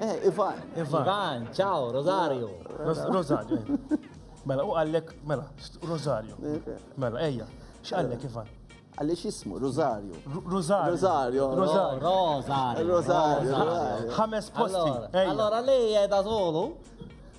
Eh, Ivan. Ivan, ciao, Rosario. Rosario. Mela, u għallek, mela, Rosario. Mela, eja, x'għallek Ivan? Għalix jismu, Rosario. Rosario. Rosario. Rosario. Rosario. Ħames posti. Allora, lei è da solo?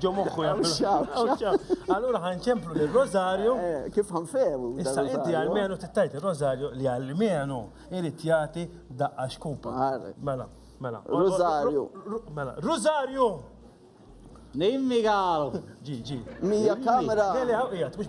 Ġo moħħu Allura ħan ċemplu li rosario eh, eh, Kif ħan fehmu? Issa inti għalmenu tittajt il-Rosario li għalmenu irrit jagħti daqqa xkupa. Mela, mela. Rosario. Mela, Rosario! Nimmi għalu. Ġi, ġi. Mija kamera. Għali għawqijat, mux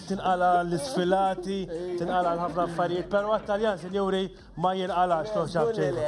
tinqala' l-isfilati, tinqala' l-ħafna affarijiet, però t-Taljan, sinjuri, ma jinqalax, toħ ċapċejħu.